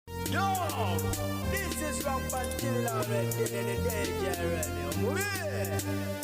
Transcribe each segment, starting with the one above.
Yo, this is Rock Bantilla already, the DJ already.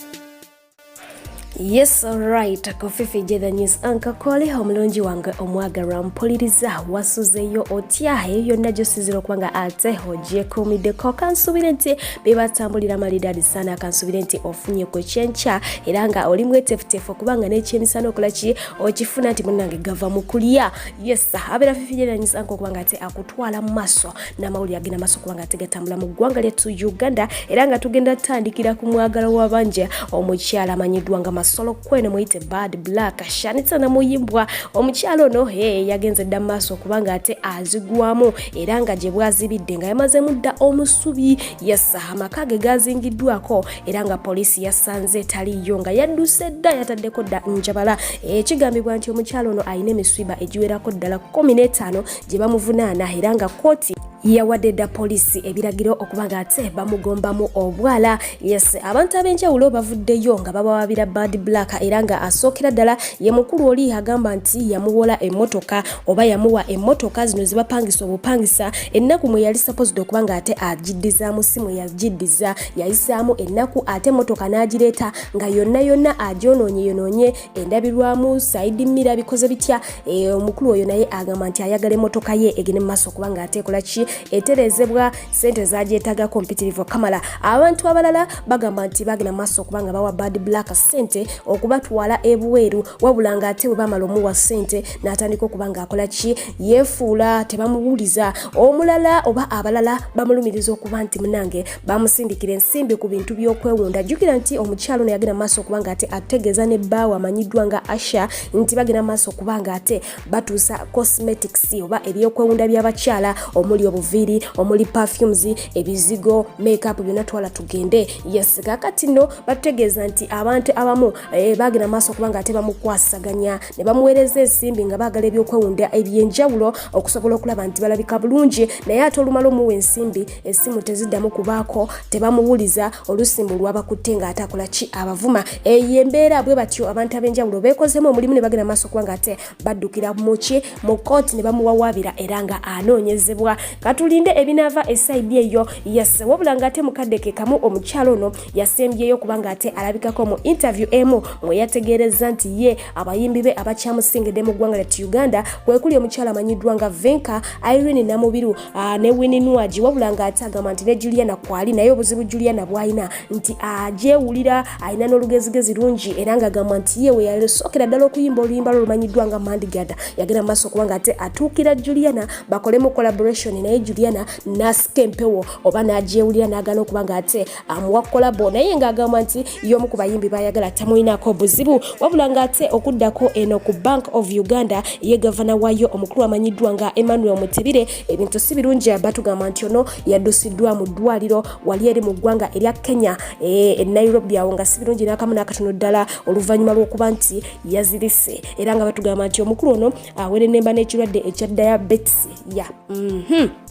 yes right kofifi jethe news anka kole omulungi wange omwagalwa mpuliriza wasuzeyo otya eyo yonna gyosinzira okuba nga ate ogyekuumiddeko kansuubire nti bebatambulira malidadi sana kansuubire nti ofunye ku kyenkya era nga oli mwetefutefu okuba nga n'ekyemisana okola ki okifuna nti munange gava mu kulya yes abeera fifigeranyisa nka okuba nga ate akutwala mu maaso n'amawulire agenda maaso okuba nga ate gatambula mu ggwanga lyettu uganda era nga tugenda tutandikira ku mwagala wabanja omukyala amanyiddwa nga masolo kweno muyite bad black shanitsa namuyimbwa omukyala ono e yagenze dda mu maaso okuba nga ate azigwamu era nga gye bwazibidde nga yamazeemu dda omusubi yes amaka ge gazingiddwako era nga poliisi yasanze taliiyo nga yadduse dda yataddeko dda njabala ekigambibwa nti omukyalo ono alina emiswiba egiwerako ddala 15 gye bamuvunaana era nga kooti yawadde dda poliisi ebiragiro okuba nga ate bamugombamu obwala yes abantu ab'enjawulo bavuddeyo nga babawabira bad black era nga asookera ddala ye mukulu oli agamba nti yamuwola emmotoka oba yamuwa emmotoka zino zibapangisa obupangisa ennaku mwe yali sapozide okuba nga ate agiddizaamu si mwe yagiddiza yayisaamu ennaku ate motoka n'agireeta nga yonna yonna agyonoonye yonoonye endabirwamu saidi mira bikoze bitya e, omukulu oyo naye agamba nti ayagala emotoka ye egende mumaaso kubanga ate ekola ki eterezebwa sente zagyetagako mpitirivu kamala abantu abalala bagamba nti bagenda mumaaso kubanga bawa bad black sente okubatwala ebweru wabula nga ate webamala omuwa sente n'atandika okuba nga akola ki yefuula tebamuwuliza omulala oba abalala bamulumiriza okuba nti munange bamusindikira ensimbi ku bintu by'okwewunda jjukira nti omukyalo ono yagenda maaso okuba nga ate ategeeza ne bbaawe amanyiddwa nga asha nti bagenda maaso okuba nga ate batuusa cosmetics oba ebyokwewunda by'abakyala omuli obuviiri omuli perfumes ebizigo makeup byonna twala tugende yes kakati no batutegeeza nti abantu abamu eh, bagenda maaso okuba nga ate bamukwasaganya ne bamuweereza ensimbi nga baagala ebyokwewunda ebyenjawulo okusobola okulaba nti balabika bulungi naye ate olumala omuwa ensimbi esimu teziddamu kubaako tebamuwuliza oluusi mbu lwabakutte ng'atakola ki abavuma eyo embeera bwe batyo abantu ab'enjawulo beekozeemu omulimu ne bagenda maaso kuba ng'ate baddukira muki mu kooti ne bamuwawaabira era nga anoonyezebwa katulinde ebinaava esaidi eyo yase wabula ng'ate mukadde ke kamu omukyalo ono yasembyeyo kuba ng'ate alabikako mu interview emu mwe yategeerezza nti ye abayimbi be abakyamusingidde mu ggwanga lyat uganda kwekuli omukyalo amanyiddwa nga venka irene namubiru ah, ne wini nwagi wabula nga ate agamba nti ne juliana kwali naye obuzibu juliana bwalina nti agyewulira ah, alina n'olugezigezi lungi era nga agamba nti ye weyasookera ddala okuyimba oluyimba lwo lumanyiddwa nga mandigada yagenda mu maaso kubanga ate atuukira juliana bakolemu collaboration naye juliana n'asika empewo oba n'agyewulira n'agana okuba nga ate amuwa kolabo naye ng'agamba nti y'omu ku bayimbi bayagala tamulinako buzibu wabula ng'ate okuddako eno ku bank of uganda ye gavana wayo omukulu amanyiddwa nga emmanuel mutibire ebintu si birungi batugamba nti ono yaddusiddwa mu ddwaliro wali eri mu ggwanga erya kenya e, e nairobi awo nga si birungi n'akamu n'akatono ddala oluvannyuma lw'okuba nti yazirise era nga batugamba nti omukulu ono awerenemba n'ekirwadde ekya diabetes ya yeah. mm -hmm.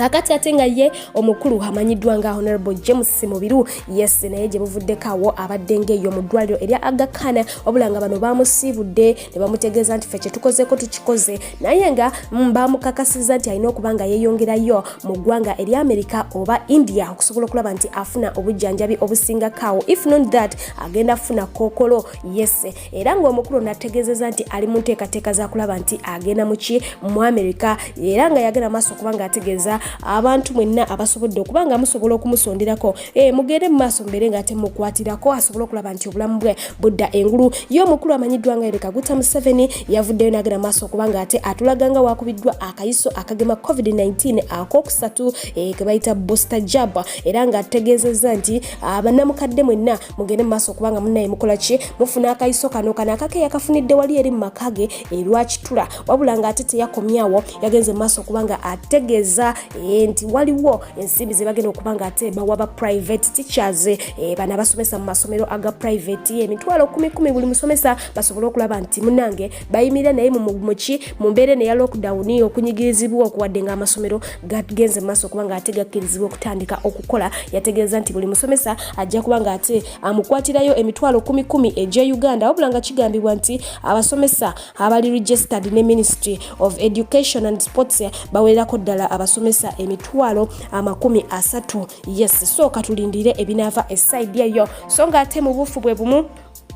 kakati ate nga ye omukulu amanyiddwa nga honorable james mubiru yes naye gye buvuddeko awo abadde ngaeyo mu ddwaliro erya agakana wabula nga bano bamusiibudde ne bamutegeeza nti fe kyetukozeeko tukikoze naye nga mm, bamukakasiza nti alina okuba nga yeeyongerayo mu ggwanga erya amerika oba india okusobola okulaba nti afuna obujjanjabi obusingakaawo if not that agenda kufuna kookolo yes era ng'omukulu nategezeza nti ali mu nteekateeka za kulaba nti agenda muki mu amerika era nga yagenda maaso okuba nga ategeeza abantu mwenna abasobodde okuba nga musobola okumusonderako e, mugende mu maaso mbeere nga ate mukwatirako asobole okulaba nti obulamu bwe budda engulu ye omukulu amanyiddwa nga ereka guta museveni yavuddeyo nagenda maaso okuba nga ate atulaga nga wakubiddwa akayiso akagema covid-19 akokusatu e, kebayita booster jab era nga ategeezezza nti abanamukadde mwenna mugende mu maaso kubanga munaye mukola ki mufuna akayiso kano kano akake yakafunidde wali eri mu maka ge erwakitula eh, wabula nga ate teyakomyawo yagenze mu maaso kubanga ategeeza eh, nti waliwo ensimbi ze bagenda okuba nga ate bawa ba private teachers eh, bana basomesa mu masomero aga private emitwalo kumikumi buli musomesa basobole okulaba nti munange bayimirira naye mumuki mu mbeera eno eya lockdown okunyigirizibwa okuwadde nga amasomero gagenze mu maaso okuba nga ate gakkirizibwa okutandika okukola yategeeza nti buli musomesa ajja kuba nga ate amukwatirayo emitwalo kumi kumi egya uganda wabula nga kigambibwa nti abasomesa abali registered ne ministry of education and sports bawererako ddala abasomesa emitwalo amakumi asatu yes so katulindire ebinaava esaidi eyo so nga ate mu buufu bwe bumu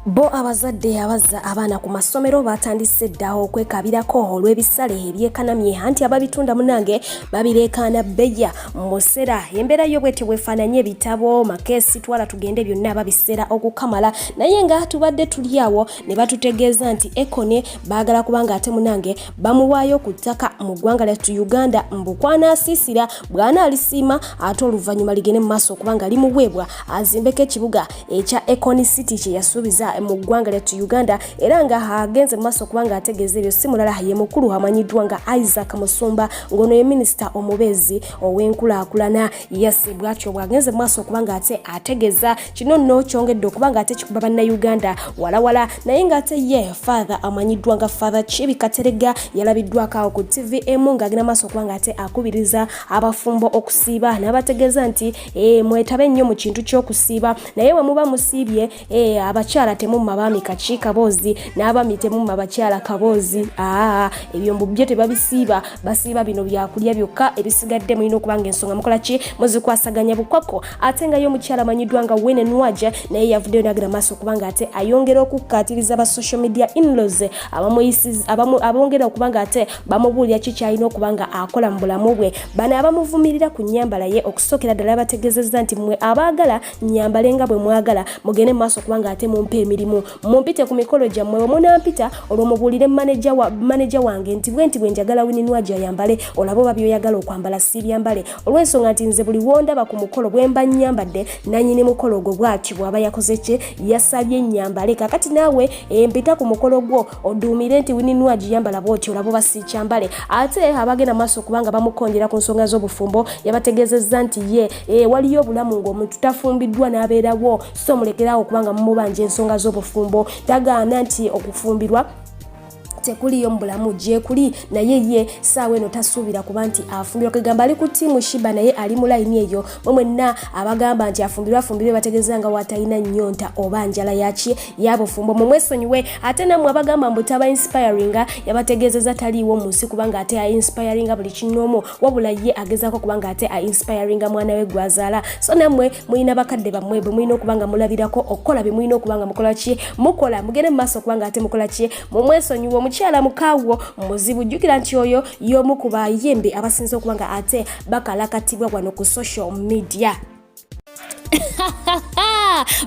Bo abazadde abazza abaana ku masomero batandise dda okwekabirako olw'ebisale ebyekanamye anti ababitunda munange babireekaana bbeya musera embeera yo bwetyo bwefaananye ebitabo makeesi twala tugende byonna babisera okukamala naye nga tubadde tuli awo ne batutegeeza nti ekone baagala kubanga ate munange bamuwaayo ku ttaka mu ggwanga lyattu uganda mbu kwanaasiisira bw'anaalisiima ate oluvannyuma ligende mu maaso okubanga limuweebwa azimbeko ekibuga ekya Econ City kye yasuubiza mu ggwanga lyattu Uganda era nga agenze mu maaso kubanga ategeeza ebyo si mulala ye mukulu amanyiddwa nga Isaac Musumba ng'ono ye minisita omubeezi ow'enkulaakulana yase bwatyo bw'agenze mu maaso kubanga ate ategeeza kino nno kyongedde okubanga ate kikuba bannayuganda walawala naye ng'ate ye father amanyiddwa nga father Kibi Katerega yalabiddwako awo ku TV emu ng'agenda maaso kubanga ate akubiriza abafumbo okusiiba n'abategeeza nti eh, mwetabe nnyo mu kintu ky'okusiiba naye bwe muba musiibye eh, abakyala temumma baami kaki kaboozi n'abaami temumma bakyala kaboozi aa ebyombo byo tebabisiiba basiiba bino byakulya byokka ebisigadde mulina okuba nga ensonga mukola ki muzikwasaganya bukwako ate nga ye omukyala amanyiddwa nga wene nwaja naye yavuddeyo nagira maaso kubanga ate ayongera okukkaatiriza ba social media inlos abongera okubanga ate bamubuulira ki kyalina okuba nga akola mu bulamu bwe bano abamuvumirira ku nyambala ye okusookera ddala bategezezza nti mwe abaagala nyambale nga bwe mwagala mugende mumaaso okuba nga ate mumpa emirimu mumpite ku mikolo gyammwe bwe munampita olwo mubuulire maneja wange nti bwe nti bwe njagala wininwaji ayambale olaba oba byoyagala okwambala siibyambale olw'ensonga nti nze buli wondaba ku mukolo bwe mba nyambadde nanyini mukolo ogwo bwati bw'aba yakoze kye yasabye nyambale kakati naawe empita ku mukolo gwo oduumire nti wini nwagi yambala bwoti olaba oba siikyambale ate abagenda maaso kubanga bamukonjera ku nsonga z'obufumbo yabategeezezza nti ye e, waliyo obulamu ng'omuntu tafumbiddwa n'abeerawo so mulekeraawo kubanga mumubanja ensonga z'obufumbo tagaana nti okufumbirwa tekuliyo mu bulamu gyekuli naye ye saawa eno tasuubira kuba nti afumbirwa kwegamba ali ku tiimu shiba naye ali mu layini eyo mwe mwenna abagamba nti afumbirwa afumbirwe bategeeza nga watalina nnyonta oba njala yaki yabufumbo mumwesonyiwe ate namwe abagamba mbu taba inspiringa yabategeezeza taliiwo mu nsi kubanga ate ainspiringa buli kinoomu wabula ye agezaako kubanga ate ainspiringa mwana we gwazaala so namwe mulina bakadde bammwe bwe mulina okuba nga mulabirako okukola bye mulina okuba nga mukola ki mukola mugende mu maaso okuba nga ate mukola ki mumwesonyiwe omukyala mukaawo muzibu jjukira nti oyo y'omu ku bayimbi abasinza okuba nga ate bakalakatibwa wano ku social media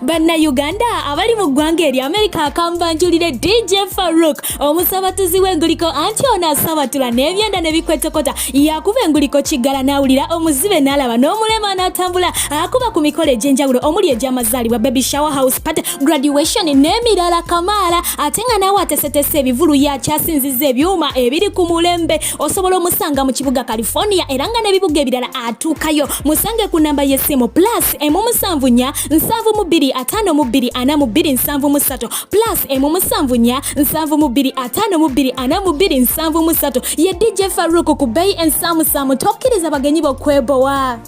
bannayuganda abali mu ggwanga eri amerika akambanjulire dj farouk omusabatuzi w'enguliko anti ono asabatula n'ebyenda ne bikwetokota yakuba enguliko kiggala n'awulira omuzibe n'alaba n'omulema n'atambula akuba ku mikolo egy'enjawulo omuli egy'amazaalibwa baby shower house party graduation n'emirala kamaala ate nga naawe atesetese ebivulu yakyasinziza ebyuma ebiri ku mulembe osobola omusanga mu kibuga california era nga n'ebibuga ebirala atuukayo musange ku namba y'essimu plus emu musanvu nya nsanvu mu bbiri ataano mu bbiri ana mu bbiri nsanvu mu ssatu plus emu musanvu nya nsanvu mu bbiri ataano mu bbiri ana mu bbiri nsanvu mu ssatu ye dj faruku ku beyi ensaamusaamu tokkiriza bagenyi bokwebowa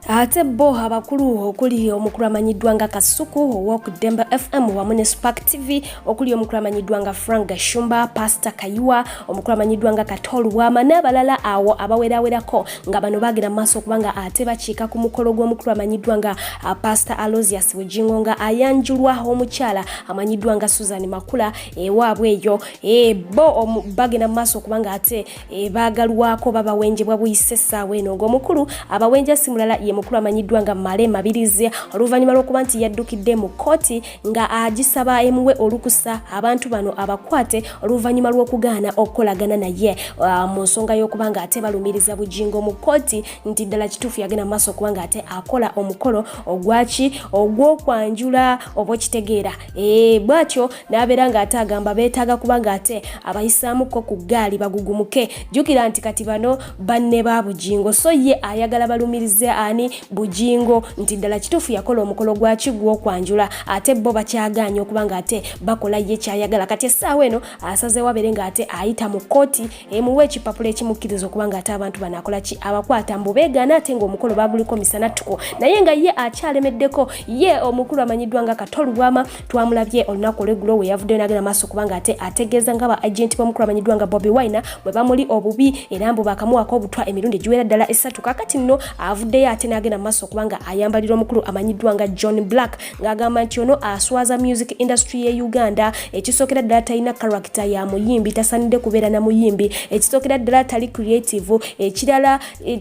ate bo abakulu okuli omukulu amanyiddwa nga kasuku owok demba fm wamu ne spark tv okuli omukulu amanyiddwa nga frank gashumba pastor kayiwa omukulu amanyiddwa nga katol wama n'abalala awo abawerawerako nga bano bagenda maaso okubanga ate bakiika ku mukolo gw'omukulu amanyiddwa nga uh, pastor alosius bujingo nga ayanjulwa omukyala amanyiddwa nga susan makula ewaabwe eyo ebo eh, bagenda maaso okubanga ate e, baagalwako babawenjebwa buyise essaawa eno ng'omukulu abawenja si mulala ye mukulu amanyiddwa nga male mabirizi oluvannyuma lw'okuba nti yaddukidde mu kkooti nga agisaba emuwe olukusa abantu bano abakwate oluvannyuma lw'okugaana okukolagana naye uh, mu nsonga y'okuba nga ate balumiriza bujingo mu kkooti nti ddala kituufu yagenda mu maaso okuba nga ate akola omukolo ogwaki ogw'okwanjula oba okitegeera e, bwatyo n'abeera ng'ate agamba beetaaga kuba ng'ate abayisaamukko ku ggaali bagugumuke jjukira nti kati bano banne ba bugingo so ye ayagala balumirize ani bugingo nti ddala kituufu yakola omukolo gwaki gw'okwanjula ate bo bakyagaanye okuba ng'ate bakola ye kyayagala kati essaawa eno asazeewo abeere ng'ate ayita mu kkooti emuwa ekipapula ekimukkiriza okuba ng'ate abantu bano akola ki abakwata mbu beegaana ate ng'omukolo baguliko misanattuko naye nga ye akyalemeddeko ye omukulu amanyiddwa nga katolubwama twamulabye olunaku olweggulo we yavuddeyo n'agenda maaso kubanga ate ategeeza nga ba agenti b'omukulu amanyiddwa nga bobi wine bwe bamuli obubi era mbu bakamuwaako obutwa emirundi egiwera ddala esatu kakati nno avuddeyo ate n'agenda maaso kubanga ayambalira omukulu amanyiddwa nga john black ng'agamba nti ono aswaza music industry ye uganda ekisookera ddala talina karakita ya muyimbi tasanidde kubeera na muyimbi ekisookera ddala tali creative ekirala eh,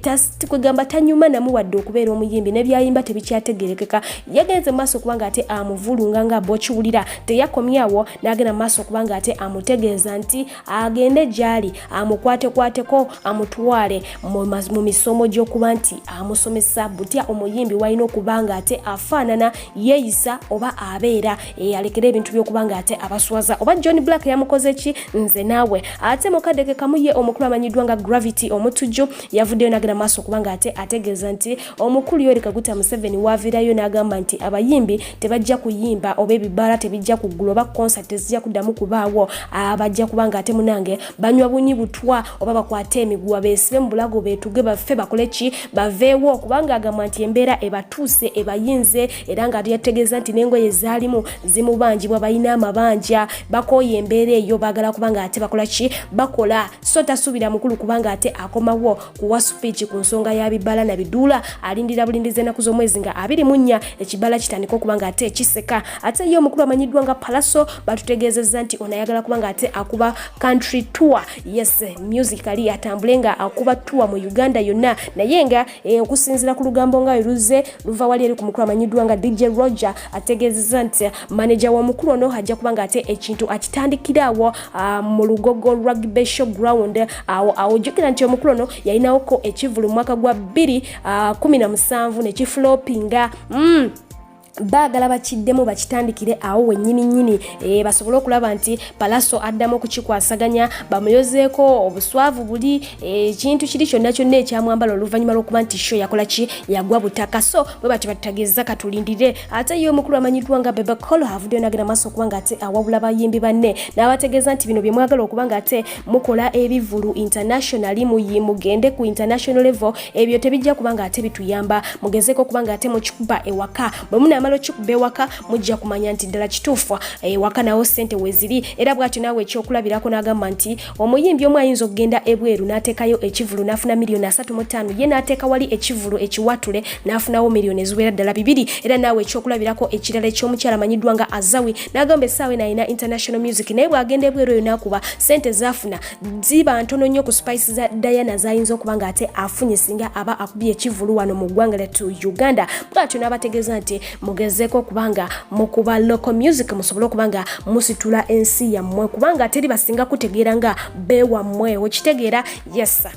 kwegamba tanyuma namu wadde okubeera omuyimbi nebyayimba tebikyategerekeka yagenze maaso okubanga ate amuvulunga nga bokiwulira teyakomyawo nagenda maaso okubanga ate amutegeeza nti agende gyali amukwatekwateko amutwale mu misomo gyokuba nti amusomesa butya omuyimbi walina okubanga ate afaanana yeeyisa oba abeera Eh, alekera ebintu byokuba nga ate abaswaza oba john black yamukoze ki nze naawe ate mukadde ke kamu ye omukulu amanyiddwa nga gravity omutujju yavuddeyo nagenda maaso okuba nga ate ategeeza nti omukulu yori kaguta museveni waavirayo n'agamba nti abayimbi tebajja kuyimba oba ebibaala tebijja kuggula oba concert tezijja kuddamu kubaawo abajja ah, kuba nga ate munange banywa bunyi butwa oba bakwate emiguwa beesibe mu bulago beetuge baffe bakole ki baveewo kubanga agamba nti embeera ebatuuse ebayinze era nga yategeeza nti n'engoye zaalimu zimubanjibwa balina amabanja bakooye embeera eyo baagala kubanga ate bakola ki bakola so tasuubira mukulu kubanga ate akomawo kuwa supiiki ku nsonga ya bibala na biduula alindira bulindiza ennaku z'omwezi nga abiri mu nnya ekibala kitandika okuba nga ate kiseka ate ye omukulu amanyiddwa nga palaso batutegeezezza nti ono ayagala kubanga ate akuba country tour yes music ali atambule nga akuba tour mu uganda yonna naye nga Eh, okusinzira ku lugambo nga luzze luva wali eri ku mukulu amanyiddwa nga dj roger ategeezeza nti maneja w'omukulu ono ajja kuba nga ate ekintu akitandikira awo ah, mu lugogo rugby show ground awo awojjukira nti omukulu ono yalinawoko ekivulu mu mwaka gwa 217 ah, nekifulopinga mm. baagala bakiddemu bakitandikire awo wennyini nnyini e, basobole okulaba nti palaso addamu okukikwasaganya bamuyozeeko obuswavu buli eh, ekintu e, kiri kyonna kyonna ekyamwambala oluvannyuma lw'okuba nti sho yakola ki yagwa butaka so bwe bati batutagezza katulindire ate ye omukulu amanyiddwa nga bebecol avuddeyo nagenda maaso okuba nga ate awabula bayimbi banne n'abategeeza nti bino bye mwagala okuba nga ate mukola ebivulu internationally muyi mugende ku international level ebyo tebijja kubanga ate bituyamba mugezeko kubanga ate mukikuba ewaka bwe munaamala okikuba ewaka mujja kumanya nti ddala kituufu ewaka nawo sente weziri era bwatyo naawe ekyokulabirako n'agamba nti omuyimbi omu ayinza okugenda ebweru n'ateekayo ekivulu n'afuna miliyoni asatu mu ttaano ye n'ateeka wali ekivulu ekiwatule n'afunawo miliyoni eziwera ddala bibiri era naawe ekyokulabirako ekirala eky'omukyala amanyiddwa nga azawi n'agamba essaawa eno alina international music naye bw'agenda ebweru eyo n'akuba sente zaafuna ziba ntono nnyo ku spice za diana zayinza okuba nga ate afunye singa aba akubye ekivulu wano mu ggwanga lyattu uganda bwatyo n'abategeeza nti mugezeeko okubanga mukuba local music musobole okuba nga musitula ensi yammwe kubanga teri basinga kutegeera nga beewammwe okitegeera yesa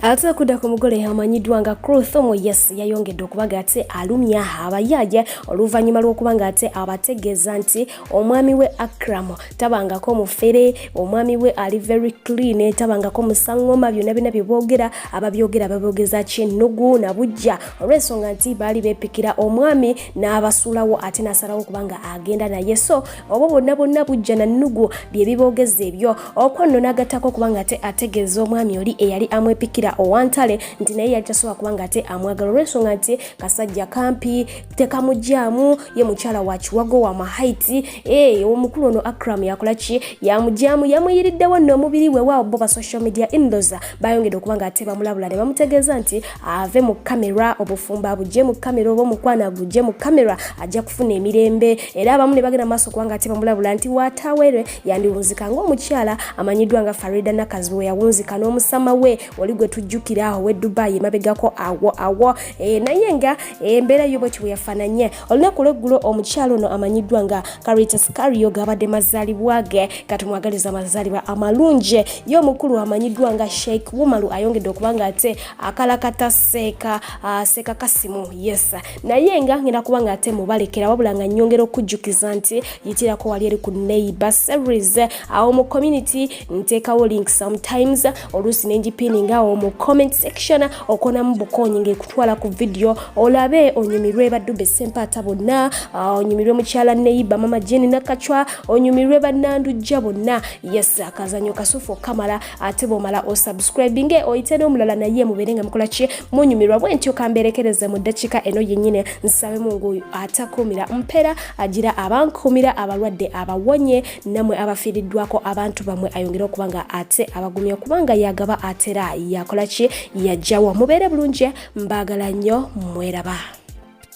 ate okudda ku mugole amanyiddwa nga crothomo yes yayongedde okubaga ate alumya abayaaja oluvannyuma lw'okuba nga ate abategeeza nti omwami we akram tabangako mufere omwami we ali very clean tabangako musangoma byonna byonna bye boogera ababyogera babyogeza kyennugu na bujja olw'ensonga nti baali beepikira omwami n'abasuulawo ate n'asalawo okuba nga agenda naye so obwo bwonna bwonna bujja na nnugu bye biboogeza ebyo okwo nno n'agattako okuba nga ate ategeeza omwami oli eyali amwepikira owantale nti naye yali tasobola kuba nga ate amwagala olw'ensonga nti kasajja kampi tekamugyamu ye mukyala wa kiwago wa mahaiti ee eh, omukulu ono akram yakola ki yamugyamu yamuyiriddewo nno omubiri we waawo bo ba social media indoza bayongedde okuba nga ate bamulabula ne bamutegeeza nti ave mu kamera obufumbo abugye mu kamera oba omukwano agugye mu kamera ajja kufuna emirembe era abamu ne bagenda maaso kubanga ate bamulabula nti watawere yandiwunzika ngaomukyala amanyiddwa nga farida nakazi we yawunzika n'omusama we oli gwe tujjukira awo we dubai emabegako awo awo eh, naye nga embeera eh, yo bwe kiwe yafananye olunaku lweggulo omukyalo ono amanyiddwa nga caritas cario gabadde mazaalibwa ge katumwagaliza amazaalibwa amalungi ye omukulu amanyiddwa nga sheik wumalu ayongedde okuba nga ate akalakata seeka ah, seeka kasimu yes naye nga ngenda kuba nga ate mubalekera wabula nga nyongera okujjukiza nti yitirako wali eri ku neighbor series awo mu community nteekawo link sometimes oluusi nengipininga awo mu comment section okonamu bukonyi ngekutwala ku vidiyo olabe onyumirwe badube sempaata bonna ah, onyumirwe mukyala neyiba mama jeni nakacwa onyumirwe banandujja bonna yes akazanyo kasufu okamala ate bwomala osubscribinge oyite n'omulala naye mubeere nga mukola ki munyumirwa bwentyo kamberekereze mu ddakiika eno yennyini nsabe mungu atakuumira mpera agira abankuumira abalwadde abawonye namwe abafiiriddwako abantu bamwe ayongere okuba nga ate abagumya kubanga yagaba atera yakola ki yajjawo mubeere bulungi mbaagala nnyo mweraba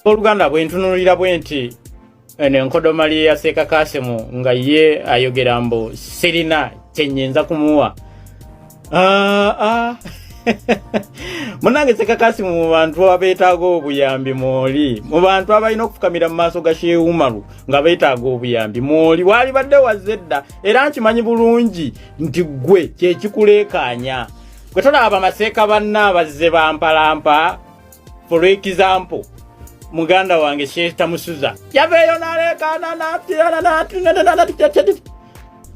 oluganda bwentunulira bwe nti eno enkodoma lye yaseeka kasimu nga ye ayogera mbu sirina kyenyinza kumuwa ah, ah. munange sekakasi mu bantu abeetaaga obuyambi mwoli mu bantu abalina okufukamira mu maaso ga sheeumaru nga beetaaga obuyambi mwoli waali badde wazze dda era nkimanyi bulungi nti ggwe kyekikuleekaanya gwe tolaba bamaseeka banna abazze bampalampa for example muganda wange sheeta musuza yaveeyo naleekaana natirana natinanananatityatyati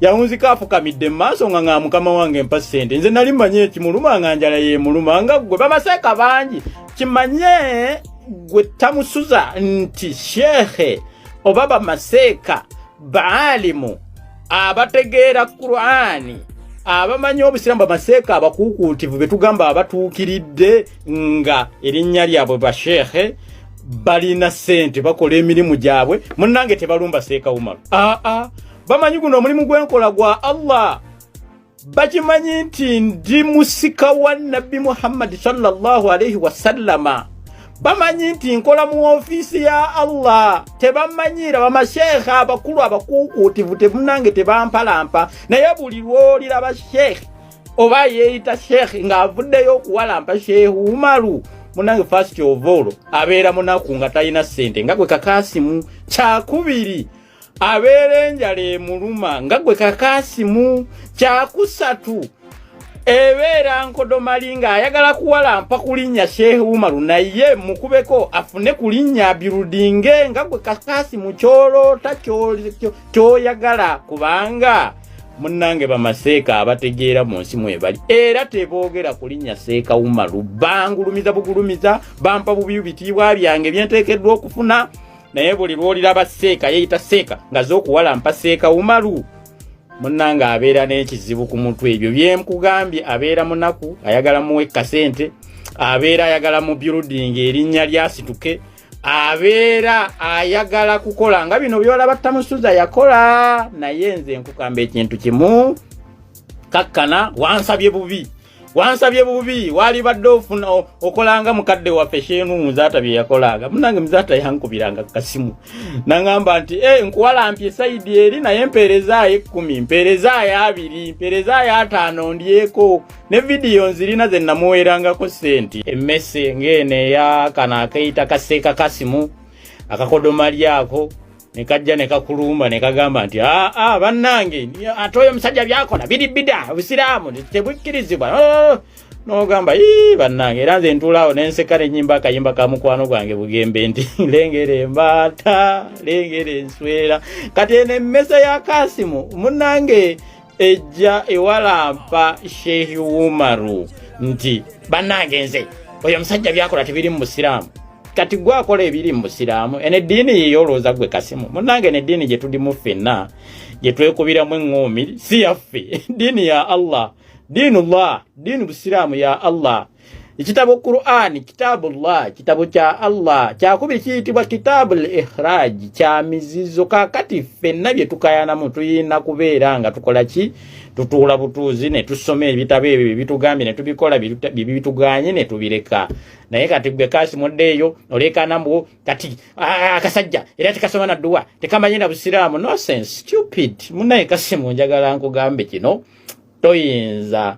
yawunzika afukamidde mu maaso nga nga mukama wange mpa ssente nze nali mmanyi ekimuluma nga njala yemuluma nga ggwe babaseeka bangi kimanye gwe tamusuza nti sheehe oba bamaseeka baalimu abategeera kurani abamanyi obusiraamu bamaseeka abakuukuutivu be tugamba abatuukiridde nga erinnya lyabwe basheekhe balina sente bakola emirimu gyabwe munange tebalumba seeka umaru aa bamanyi guno omulimu gwenkola gwa allah bakimanyi nti ndi musika wa nabbi muhammadi salllahu alaihi wasallama bamanyi nti nkola mu ofiisi ya allah tebamanyiira bamasheekhe abakulu abakuukuutivu temunange tebampalampa naye buli lwoliraba sheekhe oba yeeyita sheikh ng'avuddeyo okuwalampa sheikh umaru munange first of all abeera munaku nga talina ssente nga gwe kakaasimu kyakubiri abeera enjala emuluma nga gwe kakaasimu kyakusatu ebeera nkodomali ng'ayagala kuwalampa kulinnya sheikh umaru naye mukubeko afune kulinnya birudinge nga gwe kakaasimu kyoloota kyoyagala kubanga munnange bamaseeka abategeera mu nsi mwebali era teboogera ku linnya seeka umaru bangulumiza bugulumiza bampa bubi bitiibwa byange byenteekeddwa okufuna naye buli lwoliraba seeka yeeyita seeka nga z'okuwalampa seeka umaru munnange abeera n'ekizibu ku mutwe ebyo byemkugambye abeera munaku ayagala muwe kasente abeera ayagala mu byuludinga erinnya lyasituke abeera ayagala kukola nga bino byolaba tamusuza yakola naye nze nkukamba ekintu kimu kakkana wansabye bubi wansabye bubi walibadde ofuna okolanga mukadde waffe sheenu muzaata bye yakolanga munange muzaata yankubiranga kukasimu naŋamba nti e eh, nkuwalampye saidi eri naye mpeerezaayo ekkumi mpeerezaayo abiri mpeerezaayo ataano ndyeko ne vidiyo nzirina ze namuweerangako ssente emmese ng'eno eya kano akeyita kaseeka kasimu akakodomali ako ne kajja ne kakulumba ne kagamba nti aa ah, ah, bannange ate oyo omusajja byakola biri bida obusiraamu tebukkirizibwa oh, nogamba ii bannange era nze ntuulaawo nenseka nenyimba akayimba ka mukwano gwange bugembe nti lengera embaata lengera enswera kati eno emmese ya kasimu munnange ejja ewalampa shehi umaru nti bannange nze oyo omusajja byakola tebiri mu busiraamu kati gwe akola ebiri mu busiraamu eno eddiini yeyo olowooza gwe kasimu munnange eno eddiini gye tulimu ffenna gye twekubiramu eŋŋoomi si yaffe ddiini ya allah diinu llah diinu busiraamu ya allah Ekitabo Qur'an, kitabu Allah, kitabo kya Allah, kyakubiri kiyitibwa kitabu al-ikhraj, kya mizizo. Kakati ffenna bye tukayanamu tuyina kubeera nga tukola ki? Tutuula butuuzi ne tusoma ebitabo ebyo bye bitugambye ne tubikola bye bituganye ne tubireka. Naye kati gwe kasi muddeeyo oleekaana mbu kati akasajja era tekasoma na dduwa tekamanyi na busiraamu. Nonsense, stupid. Munaye kasi munjagala nkugambe kino toyinza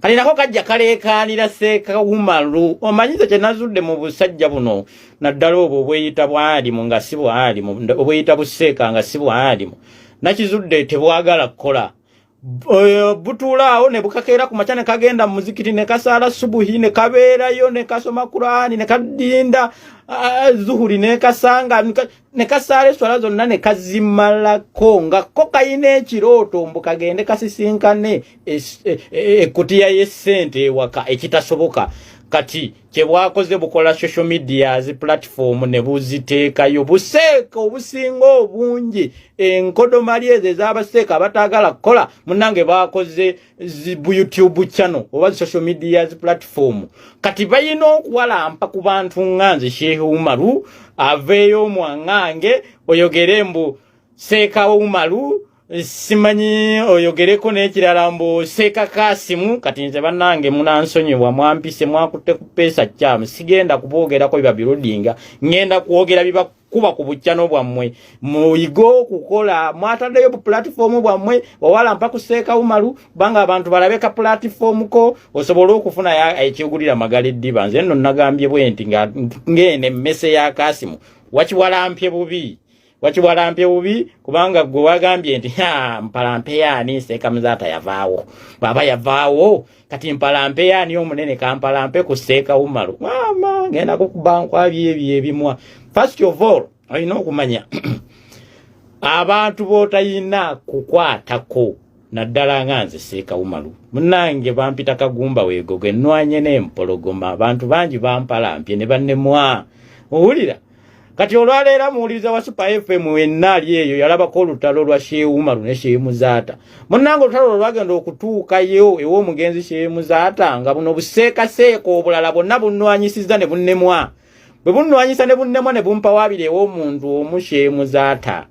kati nako kajja kaleekaanira seekawumalu omanyize kye nazudde mu busajja buno naddala obwo obweyita bwalimu nga si bwalimu obweyita buseeka nga si bwalimu nakizudde tebwagala kukola eh, butuulaawo ne bukakeera ku makya ne kagenda mu muzikiti ne kasaala subuhi ne kabeerayo ne kasoma kuraani ne kadinda ah, zuhuri ne kasanga ne kasaala eswala zonna ne kazimalako nga ko kalina ekirooto mbu kagende kasisinkane ekutiya e, e, y'essente ewaka ekitasoboka kati kyebwakoze bukola social media zi platform ne buziteekayo buseeka obusinga obungi enkodomali ezo ezabaseeka abatagala kukola munange bakoze bu youtube channel oba social media zi platform kati bayina okuwalampa ku bantu nga nze shehe umaru aveeyo omwangange oyogere mbu seeka umaru simanyi oyogereko n'ekirala mbu seeka kasimu kati nze bannange munansonyiwa mwampise mwakutte ku peesa kyamu sigenda kuboogerako biba birudinga ngenda kwogera biba kuba ku bujjano bwammwe muyige okukola mwataddeyo bupulatifoomu bwammwe owala mpa kuseeka umalu kubanga abantu balabe ka pulatifoomu ko osobole okufuna ekyogulira magala eddiba nze nno nagambye bwe nti ng'eno emmese ya kasimu wakiwalampye bubi wakiwalampye bubi kubanga gwe wagambye nti mpalampe yaani seeka muzaata yavaawo bwaba yavaawo kati mpalampe yaani omunene kampalampe ku seeka wumalu maama ngenda kukuba nkwabi ebyo ebimwa first of all olina okumanya abantu bootayina kukwatako naddala nga nze seeka wumalu munange bampita kagumba wegogo ennwanye n'empologoma abantu bangi bampalampye ne bannemwa owulira kati olwaleero muwuliriza wa super fm wenna ali eyo yalabako olutalo lwa sheumaru ne sheemuzaata munnanga olutalo lwo lwagenda okutuukayo ew'omugenzi sheemuzaata nga buno buseekaseeka obulala bonna bunnwanyisizza ne bunnemwa bwe bunnwanyisa ne bunnemwa ne bumpawabira ew'omuntu omu sheemuzaata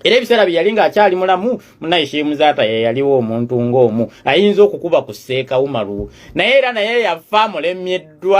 era ebiseera bye yali ng'akyali mulamu munaye sheemuzaata ye yaliwo omuntu ng'omu ayinza okukuba ku seeka umaru naye era naye yafa mulemyeddwa